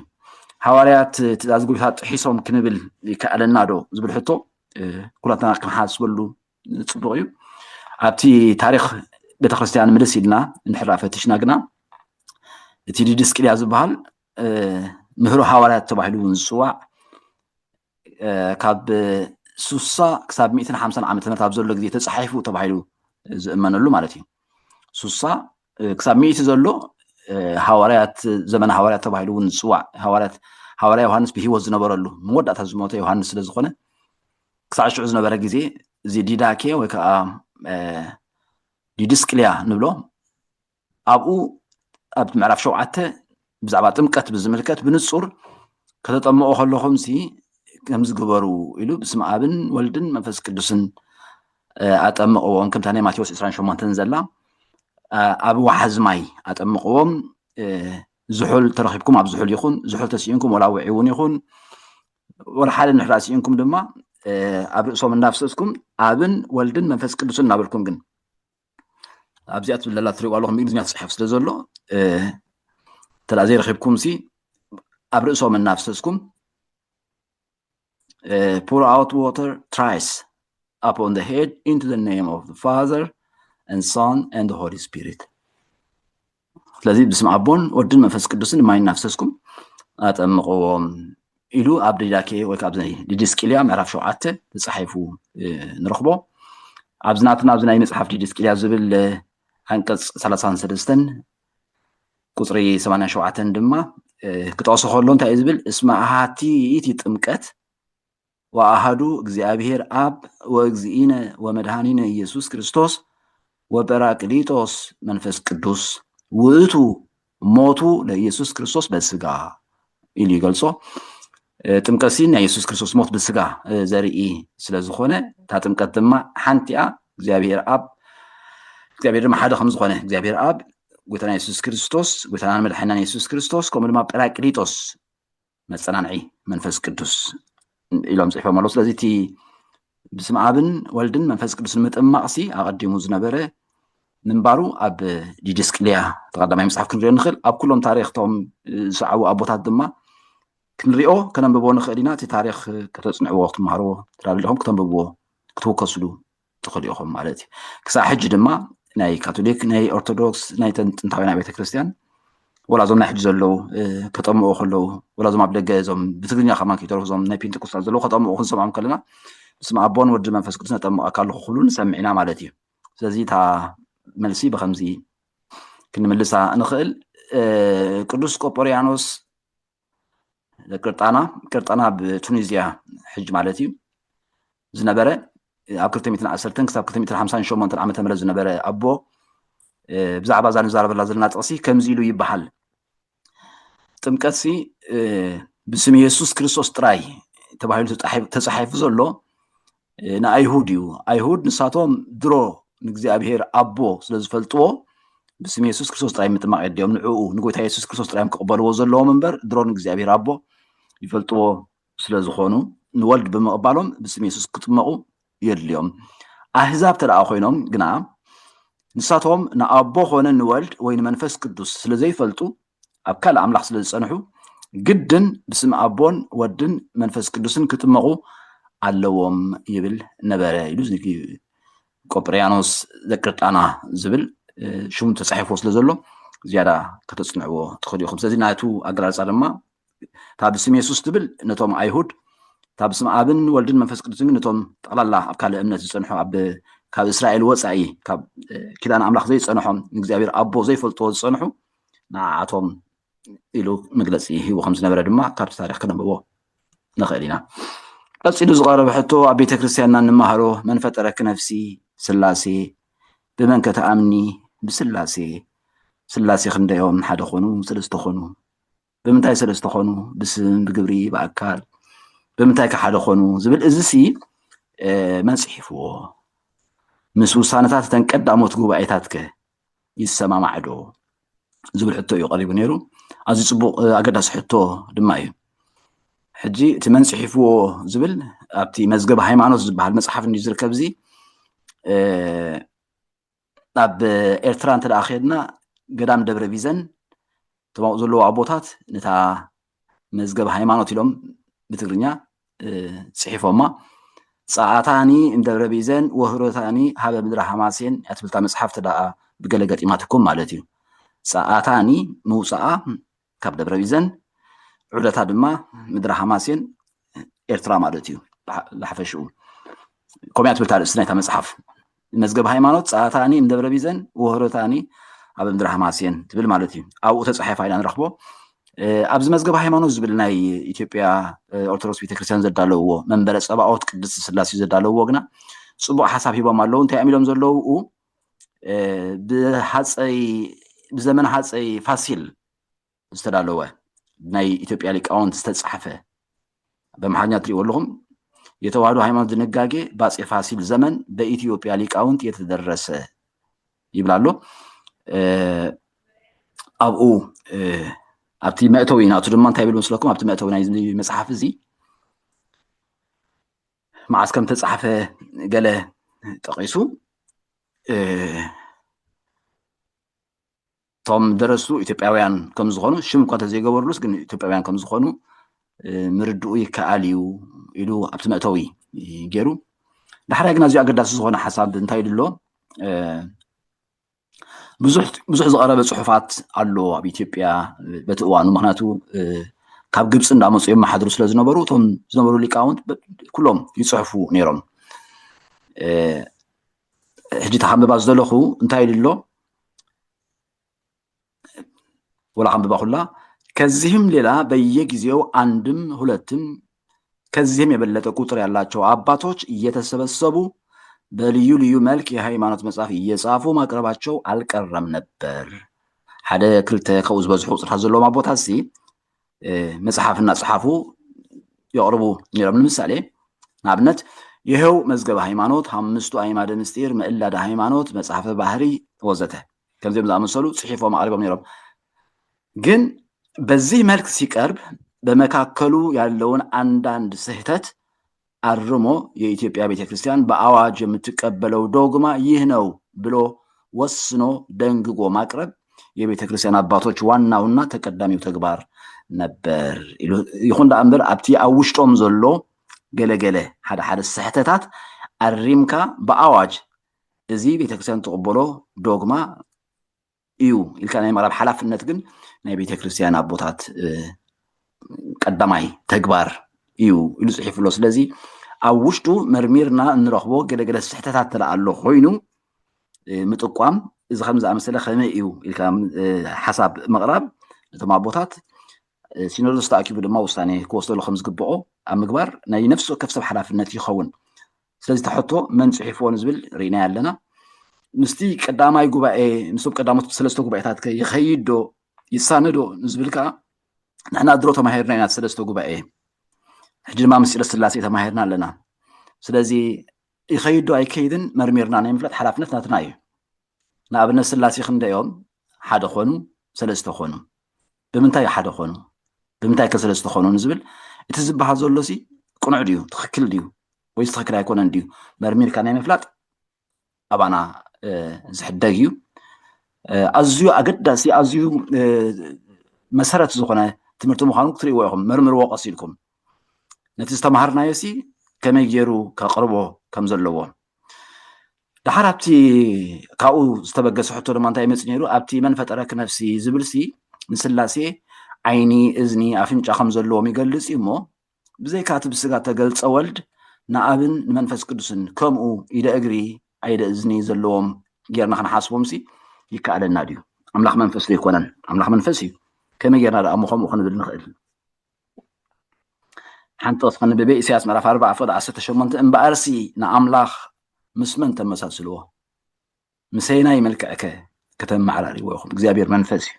ሃዋርያት ትእዛዝ ጎይታ ጥሒሶም ክንብል ይከኣለና ዶ ዝብል ሕቶ ኩላትና ክንሓስበሉ ፅቡቅ እዩ ኣብቲ ታሪክ ቤተክርስትያን ምልስ ኢልና እንድሕራ ፈትሽና ግና እቲ ዲድስቅልያ ዝበሃል ምህሮ ሃዋርያት ተባሂሉ እውን ዝፅዋዕ ካብ ስሳ ክሳብ ሚእትን ሓምሳን ዓመተ ምህረት ኣብ ዘሎ ግዜ ተፃሒፉ ተባሂሉ ዝእመነሉ ማለት እዩ ስሳ ክሳብ ሚእቲ ዘሎ ሃዋርያት ዘመነ ሃዋርያት ተባሂሉ እውን ዝፅዋዕ ሃዋርያት ሃዋርያ ዮሃንስ ብሂወት ዝነበረሉ መወዳእታ ዝሞተ ዮሃንስ ስለ ዝኾነ ክሳዕ ሽዑ ዝነበረ ግዜ እዚ ዲዳኬ ወይ ከዓ ዲድስቅልያ ንብሎ ኣብኡ ኣብ ምዕራፍ ሸውዓተ ብዛዕባ ጥምቀት ብዝምልከት ብንጹር ከተጠምቑ ከለኹም ሲ ከምዚ ግበሩ ኢሉ ብስም ኣብን ወልድን መንፈስ ቅዱስን ኣጠምቕዎም ከምታ ናይ ማቴዎስ 28 ዘላ ኣብ ዋሓዝ ማይ ኣጠምቕዎም ዝሑል ተረኪብኩም ኣብ ዝሑል ይኹን ዝሑል ተስኢንኩም ወላ ውዒ እውን ይኹን ወላ ሓደ ንሕራ ስኢንኩም ድማ ኣብ ርእሶም እናፍሰስኩም ኣብን ወልድን መንፈስ ቅዱስን እናበልኩም ግን ኣብዚኣ ትብል ዘላ ትሪእዋ ኣለኹም ብእንግሊዝኛ ትፅሐፍ ስለ ዘሎ እንተ ዘይረኺብኩም ሲ ኣብ ርእሶም እናፍሰስኩም ፑር ኣውት ዋተር ትራይስ ኣፕ ኦን ዘ ሄድ ኢንቱ ዘ ኔም ኦፍ ፋዘር and Son and the Holy Spirit ስለዚ ብስም ኣቦን ወድን መንፈስ ቅዱስን ማይ እናፍሰስኩም ኣጠምቕዎም ኢሉ ኣብ ዲዳኬ ወይ ካብ ዲድስቅልያ ምዕራፍ ሸውዓተ ተፃሒፉ ንረኽቦ ኣብዚ ናትና ኣብዚ ናይ መፅሓፍ ዲድስቅልያ ዝብል ዓንቀፅ ሰላሳን ሰለስተን ቁፅሪ ሰማንያን ሸውዓተን ድማ ክጠቕሶ ከሎ እንታይ እዩ ዝብል እስመ ኣሃቲ ይእቲ ጥምቀት ወኣሃዱ እግዚኣብሔር ኣብ ወእግዚእነ ወመድኃኒነ ኢየሱስ ክርስቶስ ወጰራቅሊጦስ መንፈስ ቅዱስ ውእቱ ሞቱ ለኢየሱስ ክርስቶስ በስጋ ኢሉ ይገልጾ። ጥምቀት ሲ ናይ የሱስ ክርስቶስ ሞት ብስጋ ዘርኢ ስለ ዝኾነ እታ ጥምቀት ድማ ሓንቲኣ እግዚኣብሔር ኣብ እግዚኣብሔር ድማ ሓደ ከም ዝኾነ እግዚኣብሔር ኣብ ጎይታና የሱስ ክርስቶስ ጎይታናን መድሓናን የሱስ ክርስቶስ ከምኡ ድማ ጰራቅሊጦስ መፀናንዒ መንፈስ ቅዱስ ኢሎም ፅሒፎም ኣለዉ ስለዚ እቲ ብስም ኣብን ወልድን መንፈስ ቅዱስ ንምጥማቕ ሲ ኣቐዲሙ ዝነበረ ምንባሩ ኣብ ዲድስቅልያ ተቀዳማይ መፅሓፍ ክንሪኦ ንኽእል ኣብ ኩሎም ታሪክቶም ዝሰዓቡ ኣቦታት ድማ ክንሪኦ ከነንብቦ ንኽእል ኢና እቲ ታሪክ ከተፅንዕዎ ክትመሃርዎ ትራለኹም ክተንብብዎ ክትውከስሉ ትኽእሉ ኢኹም ማለት እዩ ክሳብ ሕጂ ድማ ናይ ካቶሊክ ናይ ኦርቶዶክስ ናይ ጥንታውያን ቤተ ክርስቲያን ወላ እዞም ናይ ሕጂ ዘለዉ ከጠምቑ ከለዉ ወላ እዞም ኣብ ደገ እዞም ብትግርኛ ከማ ከይተረፉ እዞም ናይ ፔንቴኮስታል ዘለዉ ከጠምቑ ክንሰምዖም ከለና ብስመ ኣቦን ወዲ መንፈስ ቅዱስ ነጠምቐካ ኣለኹ ክብሉ ንሰምዕ ኢና ማለት እዩ ስለዚ እታ መልሲ ብከምዚ ክንምልሳ ንኽእል ቅዱስ ቆጶርያኖስ ቅርጣና ቅርጣና ኣብ ቱኒዝያ ሕጂ ማለት እዩ ዝነበረ ኣብ 210 ክሳብ 258 ዓ ም ዝነበረ ኣቦ ብዛዕባ እዛ ንዛረበላ ዘለና ጥቕሲ ከምዚ ኢሉ ይበሃል ጥምቀት ሲ ብስም የሱስ ክርስቶስ ጥራይ ተባሂሉ ተፃሒፉ ዘሎ ንኣይሁድ እዩ ኣይሁድ ንሳቶም ድሮ ንእግዚኣብሄር ኣቦ ስለ ዝፈልጥዎ ብስም የሱስ ክርስቶስ ጥራይ ምጥማቕ የድልዮም ንዕኡ ንጎይታ የሱስ ክርስቶስ ጥራዮም ክቕበልዎ ዘለዎም እምበር ድሮ ንእግዚኣብሄር ኣቦ ይፈልጥዎ ስለ ዝኾኑ ንወልድ ብምቕባሎም ብስም የሱስ ክጥመቑ የድልዮም ኣህዛብ ተደኣ ኮይኖም ግና ንሳቶም ንኣቦ ኮነ ንወልድ ወይ ንመንፈስ ቅዱስ ስለ ዘይፈልጡ ኣብ ካልእ ኣምላኽ ስለ ዝጸንሑ ግድን ብስም ኣቦን ወድን መንፈስ ቅዱስን ክጥመቑ ኣለዎም ይብል ነበረ ኢሉ ቆጵርያኖስ ዘቅርጣና ዝብል ሽሙ ተጻሒፎ ስለ ዘሎ ዝያዳ ከተጽንዕዎ ትኽእሉ ኢኹም ስለዚ ናቱ ኣገላልጻ ድማ እታ ብስም የሱስ ትብል ነቶም ኣይሁድ እታ ብስም ኣብን ወልድን መንፈስ ቅዱስን ግን ነቶም ጠቕላላ ኣብ ካልእ እምነት ዝጸንሑ ኣብ ካብ እስራኤል ወፃኢ ካብ ኪዳን ኣምላኽ ዘይፀንሖም ንእግዚኣብሔር ኣቦ ዘይፈልጥዎ ዝፀንሑ ንዓኣቶም ኢሉ መግለፂ ሂቡ ከም ዝነበረ ድማ ካብቲ ታሪኽ ክነንብቦ ንኽእል ኢና። ቀፂሉ ዝቐረበ ሕቶ ኣብ ቤተ ክርስቲያንና እንመሃሮ መን ፈጠረኪ ነፍሲ ስላሴ ብመን ከ ትኣምኒ ብስላሴ ስላሴ ክንደዮም ሓደ ኾኑ ሰለስተ ኾኑ ብምንታይ ስለ ዝተኾኑ ብስም ብግብሪ ብኣካል ብምንታይ ከሓደ ኮኑ ዝብል እዚ ሲ መን ፅሒፍዎ ምስ ውሳነታት እተን ቀዳሞት ጉባኤታት ከ ይሰማማዕ ዶ ዝብል ሕቶ እዩ ቀሪቡ ነይሩ ኣዚ ፅቡቅ ኣገዳሲ ሕቶ ድማ እዩ ሕጂ እቲ መን ፅሒፍዎ ዝብል ኣብቲ መዝገብ ሃይማኖት ዝበሃል መፅሓፍ እንዩ ዝርከብ እዚ ናብ ኤርትራ እንተ ከድና ገዳም ደብረ ቢዘን እቶም ኣብኡ ዘለዉ ኣቦታት ነታ መዝገብ ሃይማኖት ኢሎም ብትግርኛ ጽሒፎማ ጸኣታኒ እምደብረ ቢዘን ወህሮታኒ ሃበ ምድረ ሃማሴን እያ ትብልታ መጽሓፍ ተደኣ ብገለ ገጢማትኩም ማለት እዩ ጸኣታኒ ምውጻኣ ካብ ደብረቢዘን ዑደታ ድማ ምድረ ሃማሴን ኤርትራ ማለት እዩ ብሓፈሽኡ ከምያ ትብል ታርእስቲ ናይታ መፅሓፍ መዝገብ ሃይማኖት ፀኣታኒ እምደብረ ቢዘን ወህሮታኒ ኣብ ምድሪ ሃማሴን ትብል ማለት እዩ ኣብኡ ተፃሒፋ ኢና ንረኽቦ ኣብዚ መዝገብ ሃይማኖት ዝብል ናይ ኢትዮጵያ ኦርቶዶክስ ቤተክርስትያን ዘዳለውዎ መንበረ ፀባኦት ቅድስቲ ስላሴ ዘዳለውዎ ግና ፅቡቅ ሓሳብ ሂቦም ኣለው እንታይ እዮም ኢሎም ዘለውኡ ብሃፀይ ብዘመን ሃፀይ ፋሲል ዝተዳለወ ናይ ኢትዮጵያ ሊቃውንት ዝተፃሕፈ በምሓርኛ ትሪእዎ ኣለኹም የተዋህዶ ሃይማኖት ድንጋጌ በአፄ ፋሲል ዘመን በኢትዮጵያ ሊቃውንት የተደረሰ ይብል ኣሎ ኣብኡ ኣብቲ መእተዊ ናቱ ድማ እንታይ ይብል መስለኩም ኣብቲ መእተዊ ናይ መፅሓፍ እዚ መዓስ ከም ተፃሕፈ ገለ ጠቒሱ እቶም ደረሱ ኢትዮጵያውያን ከም ዝኾኑ ሽም እኳ ተዘይገበርሉስ ግን ኢትዮጵያውያን ከም ዝኾኑ ምርድኡ ይከኣል እዩ ኢሉ ኣብቲ መእተዊ ገይሩ ዳሕራይ ግን ኣዝዩ ኣገዳሲ ዝኾነ ሓሳብ እንታይ ኢሉ ኣሎ ብዙሕ ብዙሕ ዝቐረበ ፅሑፋት ኣሎ ኣብ ኢትዮጵያ በቲ እዋኑ ምክንያቱ ካብ ግብፂ እንዳመፁ የመሓድሩ ስለ ዝነበሩ እቶም ዝነበሩ ሊቃውንት ኩሎም ይፅሕፉ ነይሮም ሕጂ ተካንብባ ዝደለኹ እንታይ ኢሉ ኣሎ ወላ ካንብባ ኩላ ከዚህም ሌላ በየጊዜው አንድም ሁለትም ከዚህም የበለጠ ቁጥር ያላቸው አባቶች እየተሰበሰቡ በልዩ ልዩ መልክ የሃይማኖት መጽሐፍ እየጻፉ ማቅረባቸው አልቀረም ነበር። ሓደ ክልተ ካብኡ ዝበዝሑ ቁፅርታት ዘለዎም ኣቦታት ሲ መጽሓፍ እናፅሓፉ የቕርቡ ነይሮም። ንምሳሌ ንኣብነት ይኸው መዝገበ ሃይማኖት፣ ሓምስቱ ኣይማደ ምስጢር፣ ምእላደ ሃይማኖት፣ መጽሓፈ ባህሪ ወዘተ ከምዚኦም ዝኣመሰሉ ጽሒፎም ኣቕሪቦም ነይሮም። ግን በዚህ መልክ ሲቀርብ በመካከሉ ያለውን አንዳንድ ስህተት አርሞ የኢትዮጵያ ቤተ ክርስቲያን በአዋጅ የምትቀበለው ዶግማ ይህ ነው ብሎ ወስኖ ደንግጎ ማቅረብ የቤተ ክርስቲያን አባቶች ዋናውና ተቀዳሚው ተግባር ነበር። ይኹን ደኣ እምበር ኣብቲ ኣብ ውሽጦም ዘሎ ገለገለ ሓደ ሓደ ስሕተታት ኣሪምካ ብኣዋጅ እዚ ቤተክርስትያን ትቕበሎ ዶግማ እዩ ኢልካ ናይ ምቕራብ ሓላፍነት ግን ናይ ቤተ ክርስቲያን ኣቦታት ቀዳማይ ተግባር እዩ ኢሉ ፅሒፉ ኣሎ ስለዚ ኣብ ውሽጡ መርሚርና እንረኽቦ ገለገለ ስሕተታት ተለኣ ኣሎ ኮይኑ ምጥቋም እዚ ከም ዝኣመሰለ ከመይ እዩ ኢልካ ሓሳብ ምቕራብ ነቶም ኣቦታት ሲኖዶስ ተኣኪቡ ድማ ውሳኔ ክወስደሉ ከም ዝግብኦ ኣብ ምግባር ናይ ነፍሲ ወከፍ ሰብ ሓላፍነት ይኸውን ስለዚ እቲ ሕቶ መን ፅሒፍዎ ንዝብል ርኢናዮ ኣለና ምስቲ ቀዳማይ ጉባኤ ምስቶም ቀዳሞት ሰለስተ ጉባኤታት ከ ይኸይድ ዶ ይሳነዶ ንዝብል ከዓ ንሕና ድሮ ተማሂርና ኢና ሰለስተ ጉባኤ ሕጂ ድማ ምስጢረ ስላሴ ተማሂርና ኣለና ስለዚ ይኸይድ ዶ ኣይከይድን መርሚርና ናይ ምፍላጥ ሓላፍነት ናትና እዩ ንኣብነት ስላሴ ክንደይ እዮም? ሓደ ኮኑ? ሰለስተ ኮኑ? ብምንታይ ሓደ ኮኑ? ብምንታይ ከ ሰለስተ ኮኑ? ንዝብል እቲ ዝበሃል ዘሎ ሲ ቅኑዕ ድዩ ትኽክል ድዩ ወይስ ትኽክል ኣይኮነን ድዩ መርሚርካ ናይ ምፍላጥ ኣባና ዝሕደግ እዩ ኣዝዩ ኣገዳሲ ኣዝዩ መሰረት ዝኾነ ትምህርቲ ምዃኑ ክትርእይዎ ኢኹም መርምርዎ ቀሲልኩም ነቲ ዝተምሃርናዮሲ ከመይ ገይሩ ከቕርቦ ከም ዘለዎ ድሓር ኣብቲ ካብኡ ዝተበገሰ ሕቶ ድማ እንታይ ይመፅ ነይሩ ኣብቲ መን ፈጠረክ ነፍሲ ዝብልሲ ንስላሴ ዓይኒ እዝኒ ኣፍንጫ ከም ዘለዎም ይገልፅ እዩ እሞ ብዘይካ እቲ ብስጋ ተገልፀ ወልድ ንኣብን ንመንፈስ ቅዱስን ከምኡ ኢደ እግሪ ኣይደ እዝኒ ዘለዎም ጌርና ክንሓስቦምሲ ይከኣለና ድዩ ኣምላኽ መንፈስ ዘይኮነን ኣምላኽ መንፈስ እዩ ከመይ ጌርና ደኣ እሞ ከምኡ ክንብል ንኽእል ሓንቲ ወፍ ክንብበ ኢሳያስ ምዕራፍ ኣርባዓ ፍቕዲ ዓሰርተ ሸሞንተ እምበኣርሲ ንኣምላኽ ምስ መን ተመሳስልዎ ምሰይናይ መልክዕከ ከተመዓራሪዎ ኢኹም እግዚኣብሔር መንፈስ እዩ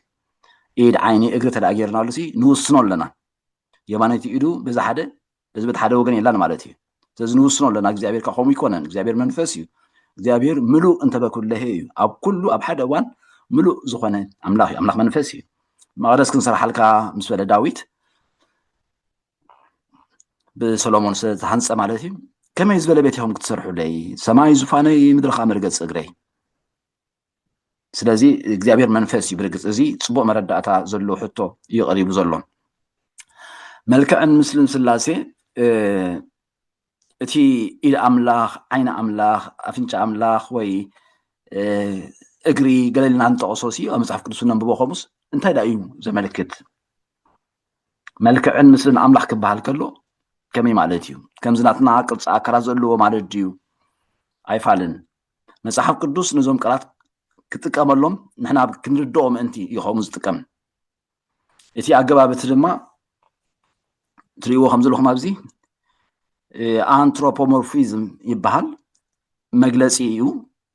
ኢድ ዓይኒ እግሪ ተደኣ ጌርናሉ ሲ ንውስኖ ኣለና የማነይቲ ኢዱ በዚ ሓደ በዚ በቲ ሓደ ወገን የላን ማለት እዩ ስለዚ ንውስኖ ኣለና እግዚኣብሔር ከ ከምኡ ይኮነን እግዚኣብሔር መንፈስ እዩ እግዚኣብሔር ምሉእ እንተበ ኩለሄ እዩ ኣብ ኩሉ ኣብ ሓደ እዋን ምሉእ ዝኾነ ኣምላኽ እዩ ኣምላኽ መንፈስ እዩ መቐደስ ክንሰርሓልካ ምስ በለ ዳዊት ብሰሎሞን ዝተሃንፀ ማለት እዩ ከመይ ዝበለ ቤት ኢኹም ክትሰርሑለይ ሰማይ ዙፋነይ ምድሪ ከዓ መርገፂ እግረይ ስለዚ እግዚኣብሔር መንፈስ እዩ ብርግፅ እዚ ፅቡቅ መረዳእታ ዘሎ ሕቶ እዩ ቀሪቡ ዘሎ መልክዕን ምስልን ስላሴ እቲ ኢድ ኣምላኽ ዓይኒ ኣምላኽ ኣፍንጫ ኣምላኽ ወይ እግሪ ገለልና ንጠቐሶ ሲ ኣብ መፅሓፍ ቅዱስ ነንብቦ ከምኡስ እንታይ ዳ እዩ ዘመልክት መልክዕን ምስልን ኣምላኽ ክበሃል ከሎ ከመይ ማለት እዩ ከምዚ ናትና ቅርፂ ኣካላት ዘለዎ ማለት ድዩ ኣይፋልን መጽሓፍ ቅዱስ ነዞም ቃላት ክጥቀመሎም ንሕና ክንርድኦ ምእንቲ እዩ ከምኡ ዝጥቀም እቲ ኣገባብ እቲ ድማ ትርእይዎ ከም ዘለኹም ኣብዚ ኣንትሮፖሞርፊዝም ይበሃል መግለፂ እዩ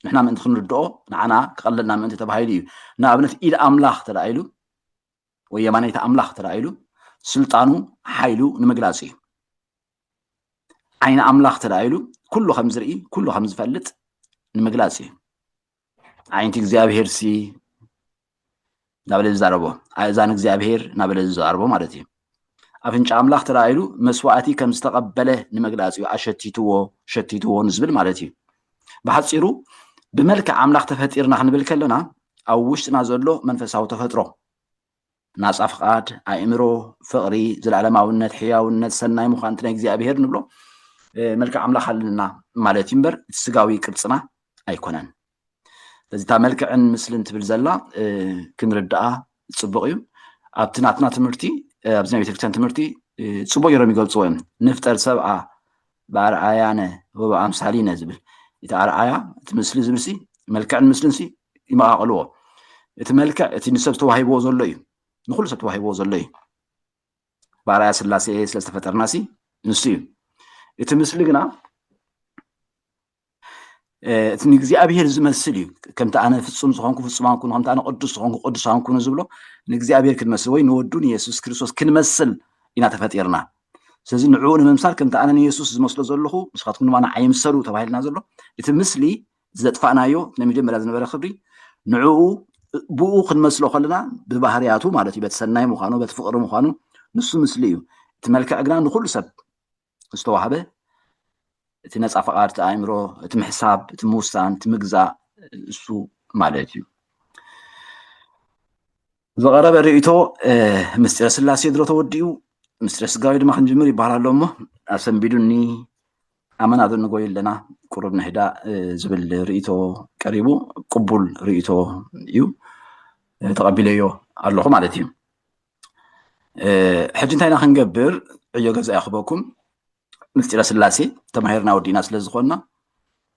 ንሕና ምእንቲ ክንርድኦ ንዓና ክቐለልና ምእንቲ ተባሂሉ እዩ ንኣብነት ኢድ ኣምላኽ ተደኣኢሉ ወይ የማነይቲ ኣምላኽ ተደኣኢሉ ስልጣኑ ሓይሉ ንምግላፅ እዩ ዓይኒ ኣምላኽ ተራእይሉ ኩሉ ከም ዝርኢ ኩሉ ከም ዝፈልጥ ንምግላጽ እዩ ዓይንቲ እግዚኣብሄር ሲ እናበለ ዝዛረቦ ኣእዛን እግዚኣብሄር እናበለ ዝዛረቦ ማለት እዩ ኣፍንጫ ኣምላኽ ተራእይሉ መስዋእቲ ከም ዝተቐበለ ንምግላፅ እዩ ኣሸቲትዎ ሸቲትዎ ንዝብል ማለት እዩ ብሓፂሩ ብመልክዕ ኣምላኽ ተፈጢርና ክንብል ከለና ኣብ ውሽጥና ዘሎ መንፈሳዊ ተፈጥሮ ናጻ ፍቓድ፣ ኣእምሮ፣ ፍቕሪ፣ ዘለዓለማውነት፣ ሕያውነት፣ ሰናይ ምዃን እቲ ናይ እግዚኣብሄር ንብሎ መልክዕ ኣምላኽ ኣለና ማለት እዩ እምበር እቲ ስጋዊ ቅርጽና ኣይኮነን። ስለዚ እታ መልክዕን ምስልን ትብል ዘላ ክንርድኣ ጽቡቕ እዩ። ኣብቲ ናትና ትምህርቲ ኣብዚ ናይ ቤተክርስትያን ትምህርቲ ጽቡቕ ገይሮም ይገልጽዎ እዮም ንፍጠር ሰብኣ ብኣርኣያነ ወብኣምሳሊነ ዝብል እቲ ኣርኣያ እቲ ምስሊ ዝብልሲ መልክዕን ምስልንሲ ይመቓቕልዎ እቲ መልክዕ እቲ ንሰብ ዝተዋሂብዎ ዘሎ እዩ ንኩሉ ሰብ ተዋሂብዎ ዘሎ እዩ ብኣርኣያ ስላሴ ስለ ዝተፈጠርናሲ ንሱ እዩ እቲ ምስሊ ግና እቲ ንእግዚኣብሄር ዝመስል እዩ ከምቲ ኣነ ፍፁም ዝኾንኩ ፍፁማን ኩኑ ከምቲ ኣነ ቅዱስ ዝኾንኩ ቅዱሳን ኩኑ ዝብሎ ንእግዚኣብሄር ክንመስል ወይ ንወዱ ንየሱስ ክርስቶስ ክንመስል ኢና ተፈጢርና ስለዚ ንዕኡ ንምምሳል ከምቲ ኣነ ንየሱስ ዝመስሎ ዘለኹ ንስኻትኩም ድማ ንዓይ ምሰሉ ተባሂልና ዘሎ እቲ ምስሊ ዘጥፋእናዮ ናይ መጀመርያ ዝነበረ ክብሪ ንዕኡ ብኡ ክንመስሎ ከለና ብባህርያቱ ማለት እዩ በቲ ሰናይ ምዃኑ በቲ ፍቕሪ ምዃኑ ንሱ ምስሊ እዩ እቲ መልክዕ ግና ንኩሉ ሰብ ዝተዋህበ እቲ ነፃ ፈቓድ እቲ ኣእምሮ እቲ ምሕሳብ እቲ ምውሳን እቲ ምግዛእ እሱ ማለት እዩ ዝቐረበ ርእቶ ምስጢረ ስላሴ ድሮ ተወዲኡ ምስጢረ ስጋዊ ድማ ክንጅምር ይበሃል ኣሎ እሞ ኣሰንቢዱኒ ኣመና ዶ ንጎይ ኣለና ቁሩብ ንህዳ ዝብል ርእቶ ቀሪቡ ቅቡል ርእቶ እዩ ተቐቢለዮ ኣለኹ ማለት እዩ ሕጂ እንታይ ኢና ክንገብር ዕዮ ገዛ ይኽበኩም ምስጢረ ስላሴ ተማሂርና ወዲእና ስለ ዝኾንና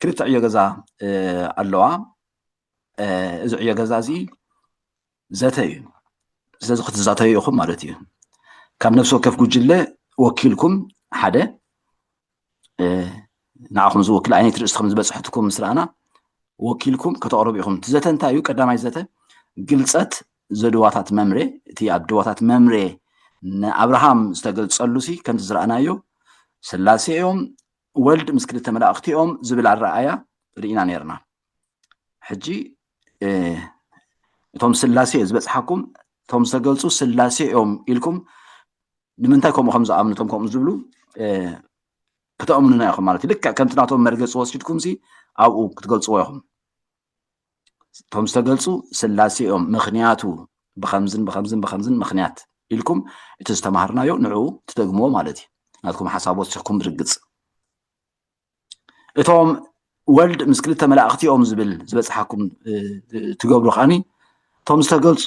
ክልተ ዕዮ ገዛ ኣለዋ እዚ ዕዮ ገዛ እዚ ዘተ እዩ ስለዚ ክትዛተዩ ኢኹም ማለት እዩ ካብ ነፍሲ ወከፍ ጉጅለ ወኪልኩም ሓደ ንዓኹም ዝወክል ዓይነት ርእስቲ ከም ዝበፅሐትኩም ምስ ረኣና ወኪልኩም ከተቕርቡ ኢኹም እቲ ዘተ እንታይ እዩ ቀዳማይ ዘተ ግልፀት ዘድዋታት መምሬ እቲ ኣድዋታት መምሬ ንኣብርሃም ዝተገልፀሉ ሲ ከምቲ ዝረኣናዮ ስላሴ እዮም ወልድ ምስ ክልተ መላእኽቲ እዮም ዝብል ኣረኣያ ርኢና ነርና ሕጂ እቶም ስላሴ እየ ዝበፅሓኩም እቶም ዝተገልፁ ስላሴ እዮም ኢልኩም ንምንታይ ከምኡ ከም ዝኣምኑ እቶም ከምኡ ዝብሉ ክተእምኑና ኢኹም ማለት እዩ ልክዕ ከምቲ ናቶም መርገፂ ወሲድኩም ሲ ኣብኡ ክትገልፅዎ ኢኹም እቶም ዝተገልፁ ስላሴ እዮም ምክንያቱ ብከምዝን ብከምዝን ብከምዝን ምክንያት ኢልኩም እቲ ዝተማሃርናዮ ንዕኡ ትደግምዎ ማለት እዩ ናትኩም ሓሳብ ወሲኽኩም ብርግፅ እቶም ወልድ ምስ ክልተ መላእኽቲ እዮም ዝብል ዝበፅሓኩም ትገብሩ ከዓኒ እቶም ዝተገልፁ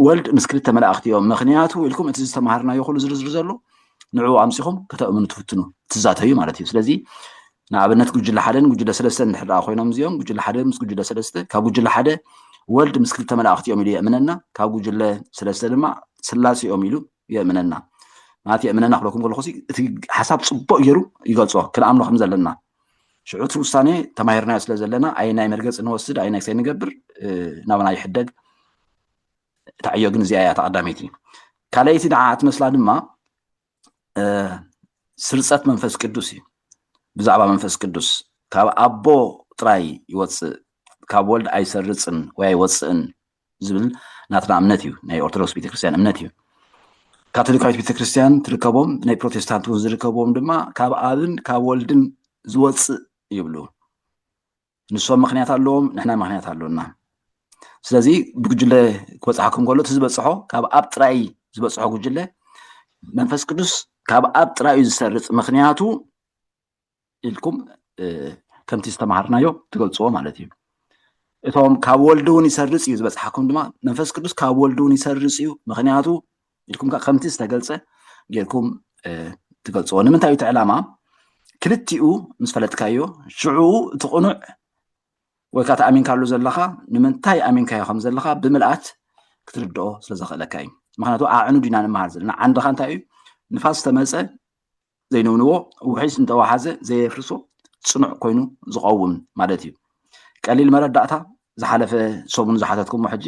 ወልድ ምስ ክልተ መላእኽቲ እዮም ምክንያቱ ኢልኩም እቲ ዝተምሃርናዮ ኩሉ ዝርዝር ዘሎ ንዕኡ ኣምፂኹም ከተእምኑ ትፍትኑ ትዛተዩ ማለት እዩ ስለዚ ንኣብነት ጉጅለ ሓደን ጉጅለ ሰለስተን እንድሕር ደኣ ኮይኖም እዚኦም ጉጅለ ሓደ ምስ ጉጅለ ሰለስተ ካብ ጉጅለ ሓደ ወልድ ምስ ክልተ መላእኽቲ እዮም ኢሉ የእምነና ካብ ጉጅለ ሰለስተ ድማ ስላሴ እዮም ኢሉ የእምነና ማለት የእምነና ክለኩም ከለኩ እቲ ሓሳብ ፅቡቅ ገይሩ ይገልፆ ክንኣምኖ ከም ዘለና ሽዑ እቲ ውሳኔ ተማሂርናዮ ስለ ዘለና ኣየናይ መርገፂ ንወስድ ኣየናይ ክሰይ ንገብር ናብና ይሕደግ እታ ዕዮ ግን እዚኣ እያ ተቀዳመይቲ ካልኣይቲ ንዓ እትመስላ ድማ ስርፀት መንፈስ ቅዱስ እዩ ብዛዕባ መንፈስ ቅዱስ ካብ ኣቦ ጥራይ ይወፅእ ካብ ወልድ ኣይሰርፅን ወይ ኣይወፅእን ዝብል ናትና እምነት እዩ ናይ ኦርቶዶክስ ቤተክርስትያን እምነት እዩ ካቶሊካዊት ቤተክርስትያን ትርከቦም ናይ ፕሮቴስታንት እውን ዝርከብዎም ድማ ካብ ኣብን ካብ ወልድን ዝወፅእ ይብሉ ንሶም ምክንያት ኣለዎም ንሕና ምክንያት ኣሎና ስለዚ ብጉጅለ ክበፅሓኩም ከሎ እቲ ዝበፅሖ ካብ ኣብ ጥራይ ዝበፅሖ ጉጅለ መንፈስ ቅዱስ ካብ ኣብ ጥራይ እዩ ዝሰርፅ ምክንያቱ ኢልኩም ከምቲ ዝተምሃርናዮ ትገልፅዎ ማለት እዩ እቶም ካብ ወልዲ እውን ይሰርፅ እዩ ዝበፅሓኩም ድማ መንፈስ ቅዱስ ካብ ወልዲ እውን ይሰርፅ እዩ ምክንያቱ ኢልኩም ከዓ ከምቲ ዝተገልፀ ጌርኩም ትገልፅዎ ንምንታይ እዩ እቲ ዕላማ ክልቲኡ ምስ ፈለጥካዮ ሽዑ እቲ ቅኑዕ ወይ ከዓ ተኣሚንካሉ ዘለካ ንምንታይ ኣሚንካዮ ከም ዘለካ ብምልኣት ክትርድኦ ስለ ዘኽእለካ እዩ ምክንያቱ ኣዕኑድ ኢና ንምሃር ዘለና ዓንድካ እንታይ እዩ ንፋስ ተመፀ ዘይንውንዎ ውሒዝ እንተወሓዘ ዘየፍርሶ ፅኑዕ ኮይኑ ዝቐውም ማለት እዩ። ቀሊል መረዳእታ ዝሓለፈ ሰሙን ዝሓተትኩሞ ሕጂ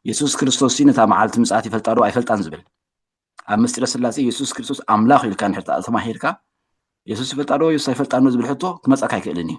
የሱስ ክርስቶስ ነታ መዓልቲ ምጽኣት ይፈልጣ ዶ ኣይፈልጣን ዝብል ኣብ ምስጢረ ስላሴ የሱስ ክርስቶስ ኣምላኽ ኢልካ ንሕታ ተማሂርካ የሱስ ይፈልጣ ዶ የሱስ ኣይፈልጣን ዶ ዝብል ሕቶ ክመጻካ ኣይክእልን እዩ።